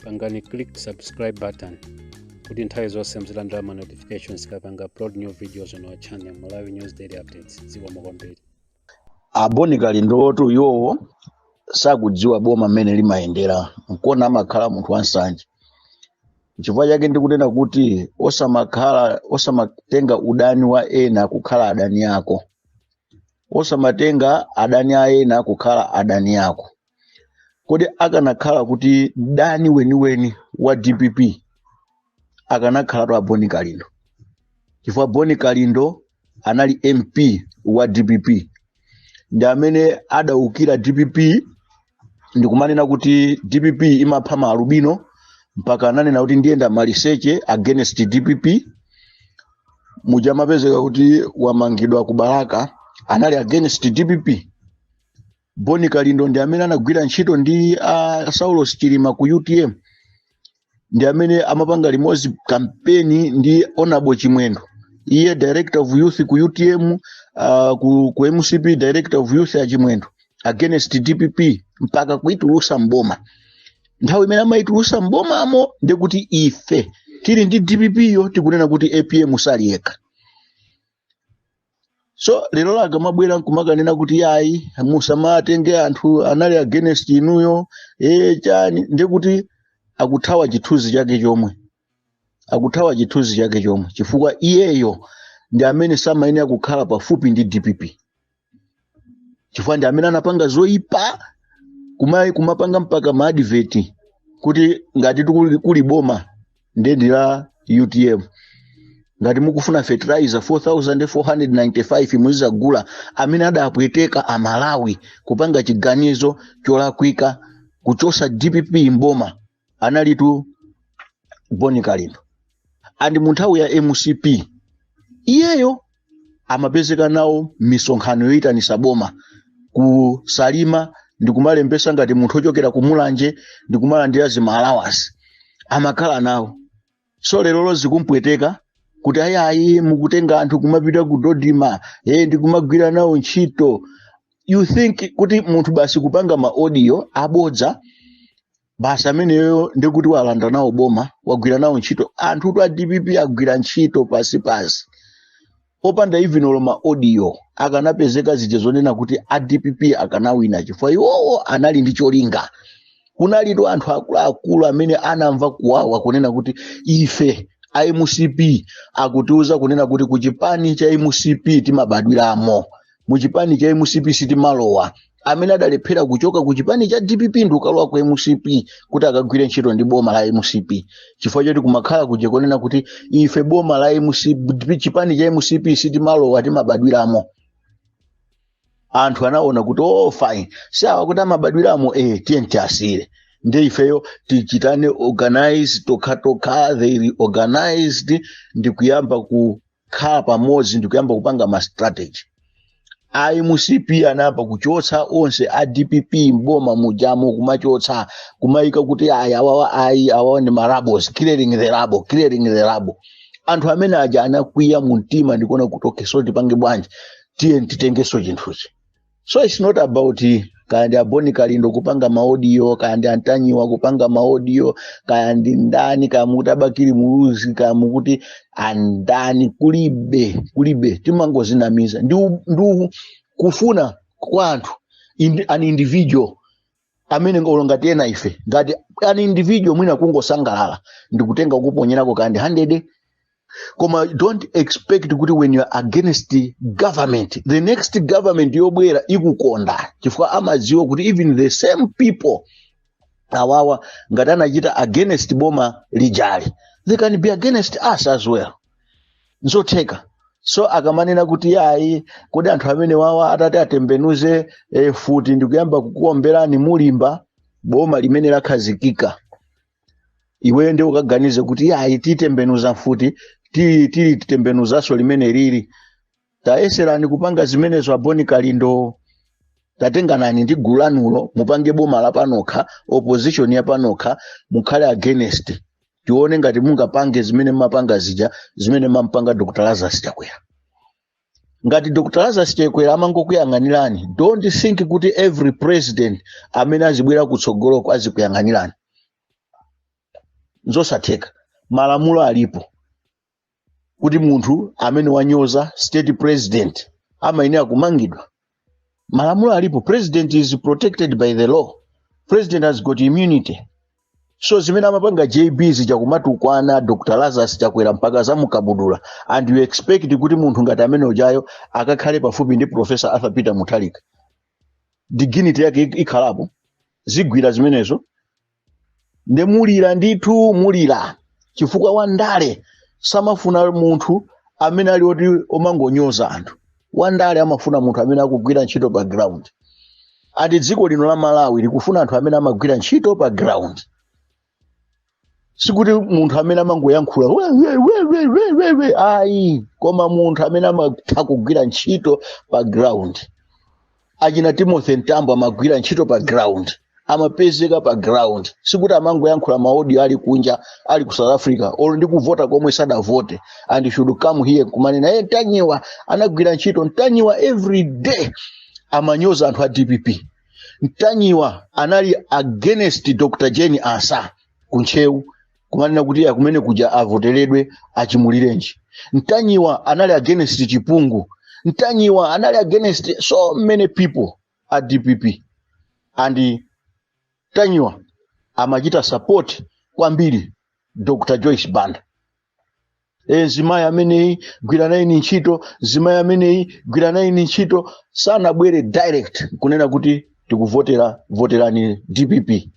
pangani click subscribe button kuti nthawi zonse muzilandira ma notifications tikapanga upload new videos on our channel malawi news daily updates zikomo kwambiri a boni kalindotu yowo sakudziwa boma mmene limayendera nkona amakhala munthu wansanje chifukwa chake ndikunena kuti osamatenga udani wa ena kukhala adani ako osamatenga adani a ena kukhala adani ako kodi akanakhala kuti mdani weniweni wa dpp akanakhalatu a boni kalindo chifukwa boni kalindo anali mp wa dpp ndi amene adaukira dpp ndikumanena kuti dpp imapha maalubino mpaka ananena kuti ndiyenda maliseche against dpp muja amapezeka kuti wamangidwa ku balaka anali against dpp boni kalindo ndi amene anagwira ntchito ndi a saulos chilima ku utm ndi amene amapanga limodzi kampeni ndi anabo chimwendo iye director of youth ku utm uh, ku, ku mcp director of youth a chimwendo against dpp mpaka kuitulusa mboma nthawi imene amaitulusa mbomamo ndikuti ife tili ndi dpp yo tikunena kuti apm sali yekha so lero akamabwera nkumakanena kuti ayi musamatenge anthu anali against inuyo ee chani ndi kuti akuthawa chithunzi chake chomwe akuthawa chithunzi chake chomwe chifukwa iyeyo ndi amene samayenera kukhala pafupi ndi dpp chifukwa ndi amene anapanga zoyipa kuma- kumapanga mpaka maadiveti kuti ngati tikuli- kuli boma ndiye ndi la utm ngati mukufuna fertilizer 4495 muzizagula amene adapweteka amalawi kupanga chiganizo cholakwika kuchosa dpp mboma analitu boni kalindo and mu nthawi ya mcp iyeyo amapezeka nawo misonkhano yoyitanisa boma ku salima ndikumalembesa ngati munthu ochokera ku mulanje ndikumalandira zi ma allowance amakhala nawo so lerolo zikumpweteka kuti ayi ayi mukutenga anthu kumapita ku dodima e ndikumagwira nawo ntchito you think kuti munthu basi kupanga ma audio abodza basi ameneyo ndikuti walanda nawo boma wagwira nawo ntchito anthutu a dpp agwira ntchito pasi pasi popanda even olo ma audio akanapezeka zija zonena kuti a dpp akanawina chifukwa iwowo anali ndi cholinga kunalitu anthu akuluakulu amene anamva kuwawa kunena kuti ife a mcp akutiuza kunena kuti kuchipani cha mcp timabadwiramo mu chipani cha mcp sitimalowa anthu amene adalephera kuchoka ku chipani cha dpp ndikukalowa ku mcp kuti akagwire ntchito ndi boma la mcp chifukwa choti kumakhala kuja konena kuti ife boma la mcp chipani cha mcp sitimalowa timabadwiramo anthu anaona kuti oh fine awa akuti amabadwiramo eh tiye tiwasiyire ndi ifeyo tipangane organize tokhatokha they reorganized ndi kuyamba ku kukhala pamodzi ndikuyamba kupanga ma strategy a mcp anayamba kuchotsa onse a dpp mboma mujamo kumachotsa kumayika kuti ayi awawa ayi awawa ndi marubbles clearing the rubble clearing the rubble anthu amene aja anakwiya mu mtima ndikuona kuti okay so tipange bwanji tiye titengeso chinthuchi so its not about kaya ndi aboni kalindo kupanga maodiyo kaya ndi antanyiwa kupanga maodiyo kaya ndi ndani kaya mukuti abakili muluzi kaya mukuti andani kulibe kulibe timangozinamiza ndi u- ndi u- kufuna kwa munthu indi- an individual amene olo ngati ena ife ngati an individual mwina kungosangalala ndikutenga kuponyerako kand 100 koma don't expect kuti when you are against the government the next government yobwera ikukonda chifukwa amadziwa kuti even the same people awawa ngati anachita against boma lijali they can be against us as well nzotheka so akamanena kuti ayi kodi anthu amene awawa atati atembenuze eh, futi ndikuyamba kukuomberani mulipinda boma limene lakhazikika iweyo nde ukaganize kuti ayi titembenuza futi ti- tili titembenuzanso limene lili tayeserani kupanga zimenezo aboni kalindo tatenganani ndi gulu lanulo mupange boma la panokha opposition ya panokha mukhale against tione ngati mungapange zimene mumapanga zija zimene mumapanga dr lazarus chakwera ngati dr lazarus chakwera amangokuyang'anirani don't think kuti every president amene azibwera kutsogoloko azikuyang'anirani nzosatheka malamulo alipo kuti munthu amene wanyoza state president amayenera kumangidwa malamulo alipo president is protected by the law president has got immunity so zimene amapanga jb zija kumatukwana dr lazarus chakwera mpaka zamukabudula and you expect kuti munthu ngati amene ujayo akakhale pafupi ndi professor arthur peter mutharika dignity yake ik- ikhalapo zigwira zimenezo ndiye mulira ndithu mulira chifukwa wandale samafuna munthu amene ali oti omangonyoza anthu wandale amafuna munthu amene akugwira ntchito pa ground ati dziko lino la malawi likufuna anthu amene amagwira ntchito pa ground sikuti munthu amene amangoyankhula "We, we, we, we, we, we, we." ayi koma munthu amene amatha kugwira ntchito pa ground achina timothy mtambo amagwira ntchito pa ground amapezeka pa ground sikuti amangoyankhula maaudio ali kunja ali ku south africa olo ndi kuvota komwe sadavote and should come here kumanena ye mtanyiwa anagwira ntchito mtanyiwa every day amanyoza anthu a dpp mtanyiwa anali against dr jane ansah ku ntcheu kumanena kuti ya kumene kuja avoteredwe achimulirenji mtanyiwa anali against chipungu mtanyiwa anali against so many people a dpp and mtanyiwa amachita support kwambiri dr joyce banda e, mzimayi ameneyi gwira nayeni ntchito mzimayi ameneyi gwira nayeni ntchito sanabwere direct kunena kuti tikuvotera voterani dpp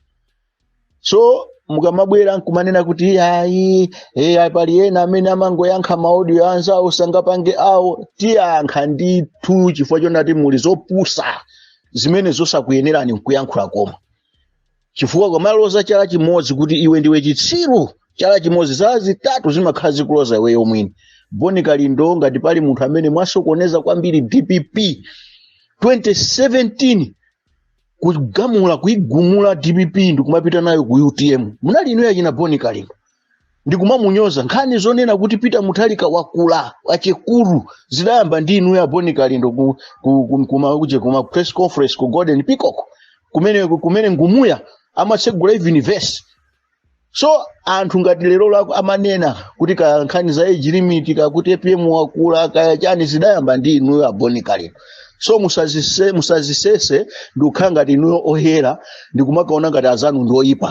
so mukamabwera nkumanena kuti iyayi eya pali ena amene amangoyankha maaudio anzawo sangapange awo tiyankha ndithu chifukwa chonati muli zopusa zimene zosakuyenerani nkuyankhula koma chifukwa ukamaloza chala chimodzi kuti iwe ndiwe chitsiru chala chimodzi zala zitatu zimakhala zikuloza iweyo mwini bon kalindo ngati pali munthu amene mwasokoneza kwambiri dpp 2017 kugamula kuigumula dpp ndikumapita nayo ku utm munali inuyo achina bon kalindo ndi kumamunyoza nkhani zonena kuti peter mutharika wakula achikulu zidayamba ndi inuyo a bon kalindo ku, ku, ku, kuma, kuje kuma press conference ku golden peacock kumene, kumene ngumuya amatsegula even verse so anthu ngati lero lako amanena kuti ka nkhani za age limit kakuti apm wakula kaya chani zidayamba ndi inuyo a bon kalindo so musazise, musazisese ndikukhala ngati inuyo oyera ndikumakaona ngati anzanu ndi oyipa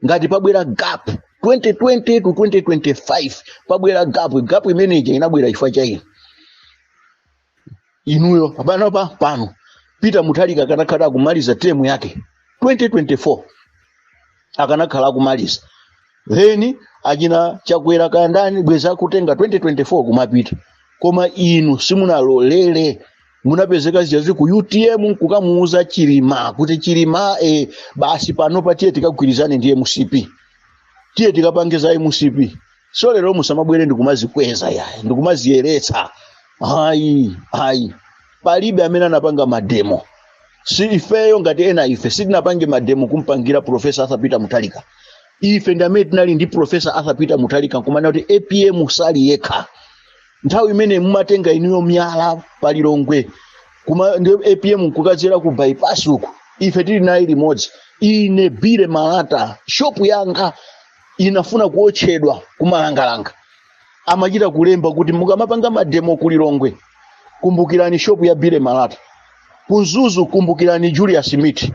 ngati pabwera gap 2020 to 2025 pabwera gap gap imene ija inabwera chifukwa cha inu inuyo panopa pano peter mutharika akanakhala akumaliza term yake 2024 akanakhala akumaliza then achina chakwera kandani bwenzi akutenga 2024 kumapita koma inu simunalolere munapezeka mwadzadza ku utm nkukamuuza chilima kuti chilima e, basi pano patiye tikagwirizane ndi mcp tiye tikapange za mcp so lero musamabwere ndikumazikweza ya ndikumaziyeretsa ayi ayi palibe amene anapanga mademo si ifeyo ngati ena ife sitinapange mademo kumpangira profesa arthur peter mutalika ife ndi amene tinali ndi profesa arthur peter mutalika nkumanena kuti apm sali yekha nthawi imene mumatenga inuyo miyala pa lilongwe kugenda apm nkukachera ku bypass uku ife tili naye limodzi ine bile malata shopu yanga inafuna kuotchedwa kumalangalanga amachita kulemba kuti mukamapanga mademo ku lilongwe kumbukirani shopu ya bile malata ku mzuzu kumbukirani julius smith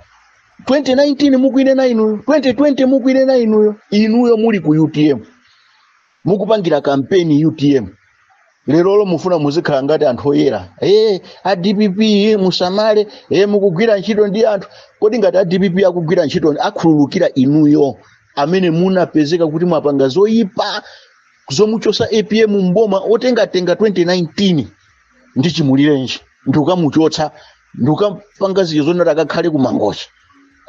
2019 mukuwinena inuyo 2020 mukuwinena inuyo inuyo muli ku utm mukupangira kampeni utm lerolo mufuna muzikhala ngati anthu oyera e a dpp eh, musamale e mukugwira ntchito ndi anthu kodi ngati a dpp akugwira ntchito akhululukira inuyo amene munapezeka kuti mwapanga zoyipa zomuchosa apm mboma ntengatenga 2019 ndi chimulirenji ndikukamuchotsa ndikukapanga zinthu zonati akakhale kumangochi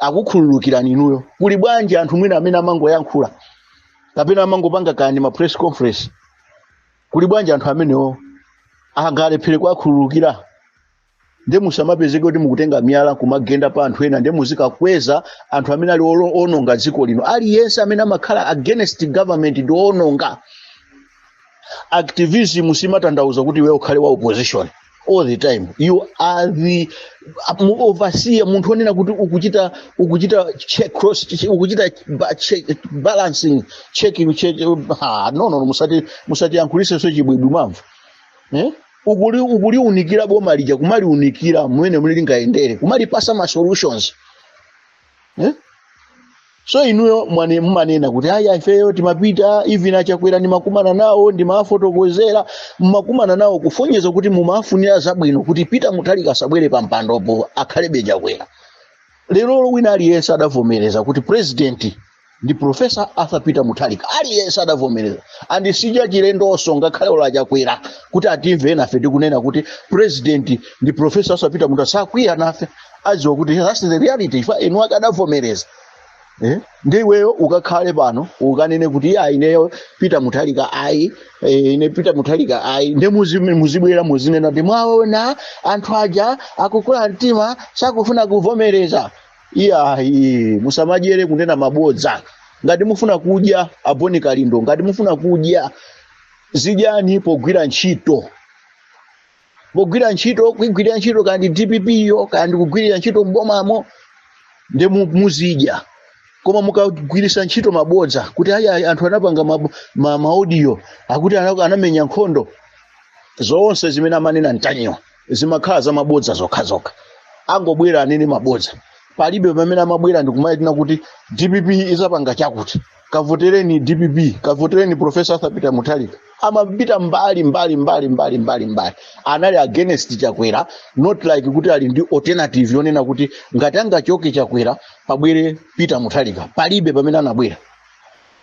akukhululukirani inuyo kuli bwanji anthu mwina amene amangoyankhula kapena amangopanga kandi ma press conference kuli bwanji anthu amenewo angalephere kuwakhululukira nde musamapezeke kuti mukutenga miyala kumagenda pa anthu ena nde muzikakweza anthu amene ali olo- ononga dziko lino aliyense amene amakhala against government ndi woononga activism simatanthauza kuti iwe ukhale wa opposition all the time you are the mu- overseer munthu onena kuti ukuchita ukuchita check cross che- ukuchita ba- che- balancing checking check, ah, no no no, musati musatiyankhulisenso chibwibwi mwamva eh? ukuli ukuliunikira boma lija kumaliunikira mmene muli lingayendere kumalipasa ma solutions eh? so inuyo mwani- mmanena kuti ayi ifeyo timapita even a chakwera ndimakumana nawo ndimafotokozera mmakumana nawo kusonyeza kuti mumafunira zabwino kuti peter mutharika asabwere pa mpandopo akhalebe chakwera lerolo wina aliyense adavomereza kuti president ndi profesa arthur peter mutharika aliyense adavomereza and si zachilendonso ngakhale olo a chakwera kuti atimve nafe tikunena kuti president ndi profesa arthur peter mutharika sakwiya nafe adziwa kuti that's the reality even eni ake adavomereza Eh? nde iweyo ukakhale pano ukanene kuti iya ineyo peter mutharika ayi eh, ine peter mutharika ayi nde muzi- muzibwera muzinena kuti mwaona anthu aja akukula mtima sakufuna kuvomereza iyayi musamadyere kunena mabodza ngati mufuna kudya abon kalindo ngati mufuna kudya zidyani pogwira ntchito pogwira ntchito kuigwirira ntchito ka ndi dpp yo ka ndi kugwirira ntchito mbomamo ndi mu- muzidya koma mukagwirisa ntchito mabodza kuti ayi ayi, anthu anapanga mab- ma- maaudio akuti ana- anamenya nkhondo zonse zimene amanena ntanyiwa zimakhala za mabodza zokhazokha angobwera anene mabodza palibe pamene amabwera ndikumatiuza kuti dpp izapanga chakuti kavotereni dpp kavotereni profesa arthur peter mutharika amapita mbali mbali mbali mbali mbali mbali anali against chakwera not like kuti ali ndi alternative yonena kuti ngati angachoke chakwera pabwere peter mutharika palibe pamene anabwera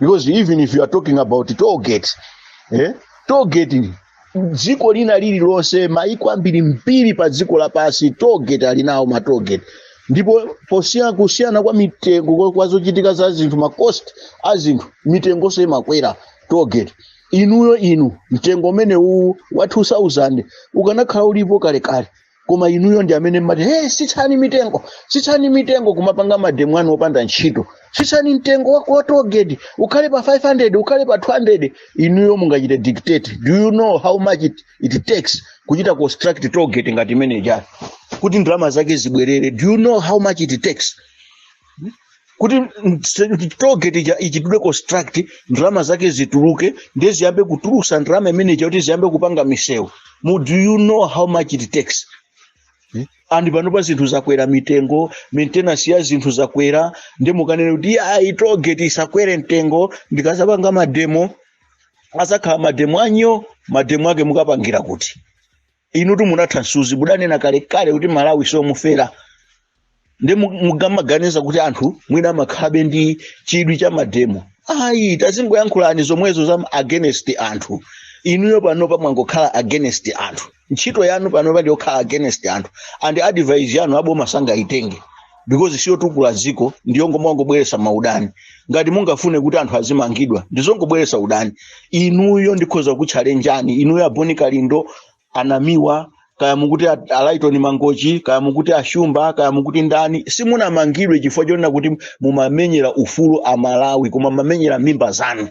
because even if you are talking about toll gate eh? toll gate dziko lina lililonse maiko ambirimbiri padziko lapansi toll gate ali nawo ma toll gate ndipo posiyana kusiyana kwa mitengo kwa- kwa zochitika za zinthu ma cost a zinthu mitengonso imakwera toll gate inuyo inu mtengo umenewu wa 2000 ukanakhala ulipo kalekale koma inuyo ndi amene mumati hey, sitsani mitengo sitsani mitengo kumapanga mademo anu opanda ntchito sitsani mtengo wako wa togeti ukhale pa 500 ukhale pa 200 inuyo mukachite dictate do you know how much it, it takes kuchita construct togeti ngati imene ija kuti ndalama zake zibwerere do you know how much it takes kuti togeti ija ichitidwe construct ndalama zake zituluke ndiye ziyambe kutulusa ndalama zimene zija kuti ziyambe kupanga misewu Mu- do you know how much it takes ndi panopa zinthu zakwera mitengo maintenance ya zinthu zakwera ndiye mukanena kuti ayi togeti isakwere mtengo ndikazapanga mademo azakhala mademo anuwo mademo ake mukapangira kuti inutu munatha msuzi mudanena kalekale kuti malawi siwomufera ndiye mu- mukamaganiza kuti anthu mwina amakhalabe ndi chidwi cha mademo ayi tazingoyankhulani zomwezo za against anthu inuyo panopa mwangokhala against anthu ntchito yanu panopa ndiyokhala against anthu ndi advice yanu aboma sangayitenge because siyotukula dziko ndiyongomangobweresa maudani ngati mungafune kuti anthu azimangidwa ndizongobweresa udani inuyo ndikhoza kukutchalenjani inuyo abon kalindo anamiwa kaya mukuti a- alaitoni mangochi kaya mukuti ashumba kaya mukuti ndani simunamangidwe chifukwa chonena kuti mumamenyera ufulu amalawi koma mumamenyera mimba zanu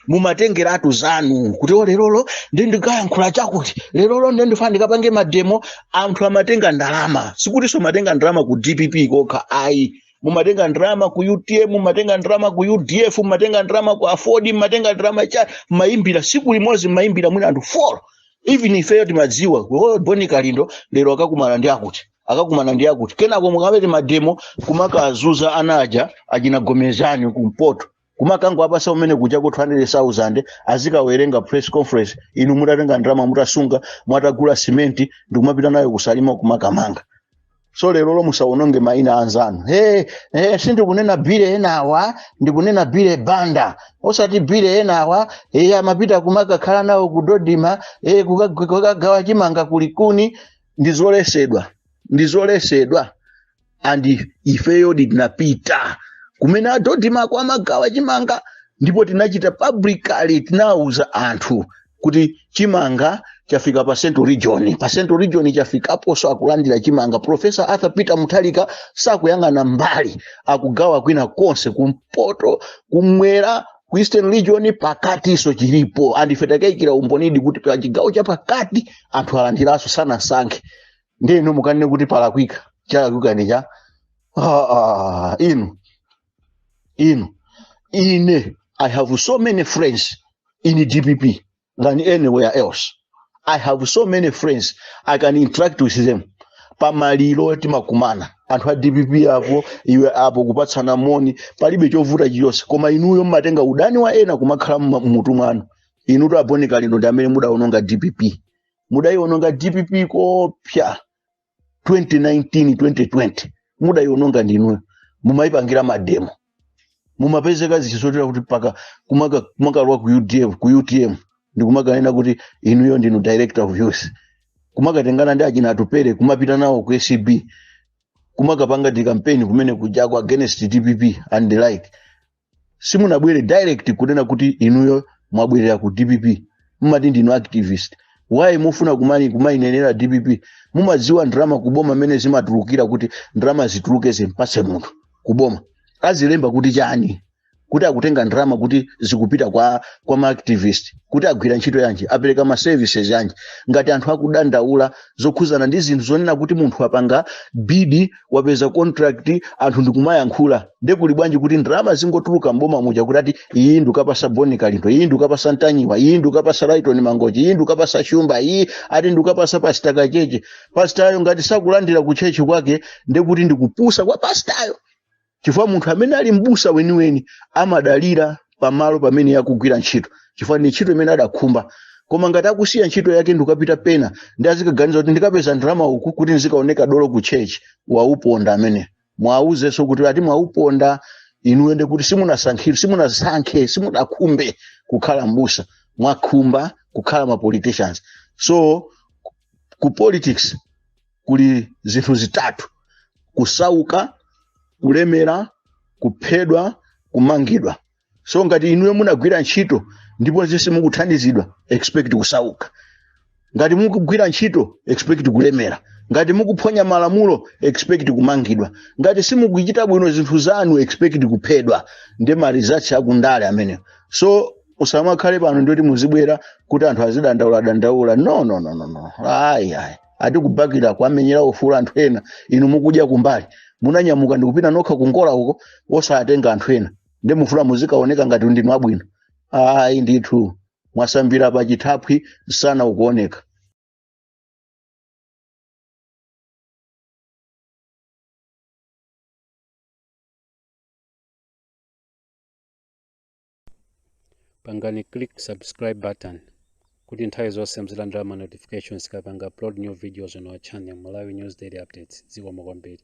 mumatengeratu zanu kuti o lerolo ndi ndikayankhula chakuti lerolo ndi ndifana ndikapange mademo anthu amatenga ndalama sikutinso mumatenga ndalama ku dpp kokha ayi mumatenga ndalama ku utm mumatenga ndalama ku udf mumatenga ndalama ku aford mumatenga ndalama mumayimbira siku limodzi mumayimbira mwina anthu folo even ifeyo timadziwa kuti, "Oh, boni kalindo lero akakumana ndi akuti akakumana ndi akuti kenako mukachite mademo kumakazuza ana aja achina gomezani kumpoto kumakango apasa kumeneko chakuti 200,000 azikawerenga press conference inu mutatenga ndalama mutasunga mutagula simenti ndikumapita nayo kusalima kumakamanga so lerolo musawononge maina anzanu hey, hey, sindikunena bile enawa ndikunena bile banda osati bile enawa hey, amapita kumakakhala nawo ku dodma hey, kukagawa chimanga kulikuni ndizoletsedwa ndizoletsedwa and ifeyodi tinapita kumene a dodmako amagawa chimanga ndipo tinachita publicly tinauza anthu kuti chimanga chafika pa central region pa central region chafikaponso akulandira chimanga professor arthur peter mutharika sakuyang'ana mbali akugawa kwina konse kumpoto kumwera ku eastern region pakatinso chilipo andife takayikira umbonidi kuti pa chigawo cha pakati anthu alandiranso sanasankhe ndi inu mukanene kuti palakwika chalakwika ndi chani ah, ah, inu inu ine i have so many friends in dpp than anywhere else i have so many friends i can interact with them pamaliro timakumana anthu a dpp apo iwe apo kupatsana moni palibe chovuta chilichonse koma inuyo mmatenga udani wa ena kumakhala mma- mmutu mwanu inutu a boni kalindo ndi amene mudaononga dpp mudayiononga dpp kofika 2019 2020 mudayiononga ndinuyo mumayipangira mademo mumapezeka zichisotera kuti mpaka kumaka- kumakalowa ku udf ku utm ndikumakanena kuti inuyo ndinu director of youth kumakatengana ndi achina atupere kumapita nawo ku acb kumakapanga ndi kampeni kumene kuja ku against dpp and the like simunabwere direct kunena kuti inuyo mwabwerera ku dpp mumati ndinu activist why mufuna kumani kumayinenera dpp mumadziwa ndalama kuboma mmene zimatulukira kuti ndalama zituluke zimpatse munthu kuboma azilemba kuti chani kuti akutenga ndalama kuti zikupita kwa kwa maactivist kuti agwira ntchito yanji apereka ma services yanji ngati anthu akudandaula zokhuzana ndi zinthu zonena kuti munthu apanga bidi wapeza contract anthu ndikumayankhula nde kuli bwanji kuti ndalama zingotuluka mboma muja kuti ati iyi ndikapasa boni kalindo iyi ndikapasa mtanyiwa iyi ndikapasa laitoni mangochi iyi ndikapasa shumba iyi ati ndikapasa pasita kachechi pasitayo ngati sakulandira kuchechi kwake ndekuti ndikupusa kwa pasitayo chifukwa munthu amene ali m'busa weniweni amadalira pamalo pamene akugwira ntchito chifukwa ndi ntchito imene adakhumba koma ngati akusiya ntchito yake ndikupita pena ndi azikaganiza kuti ndikapeza ndalama uku kuti ndizikaoneka dolo ku church wauponda amene mwauzenso kuti ati mwauponda inuyo ndi kuti simunasankhire simunasankhe simudakhumbe kukhala m'busa mwakhumba kukhala ma politicians so ku politics kuli zinthu zitatu kusauka kulemera kuphedwa kumangidwa so ngati inuyo munagwira ntchito ndipo zese mukuthandizidwa expect kusauka ngati mukugwira ntchito expect kulemera ngati mukuphonya malamulo expect kumangidwa ngati simukuchita bwino zinthu zanu expect kuphedwa ndi ma results akundale amenewo so usamakhale pano ndikuti muzibwera kuti anthu azidandaula dandaula no no no no no ayi ayi ati kubakira kwamenyera ufulu anthu ena inu mukudya kumbali munanyamuka ndikupita nokha kungola uko osatenga anthu ena nde mufuna muzikaoneka ngati ndinu abwino ayi ndithu mwasambira pa chithaphwi msana ukuoneka pangani click subscribe button kuti nthawi zonse muzilandira ma notifications tikapanga upload new videos on our channel Malawi News Daily Updates zikomo kwambiri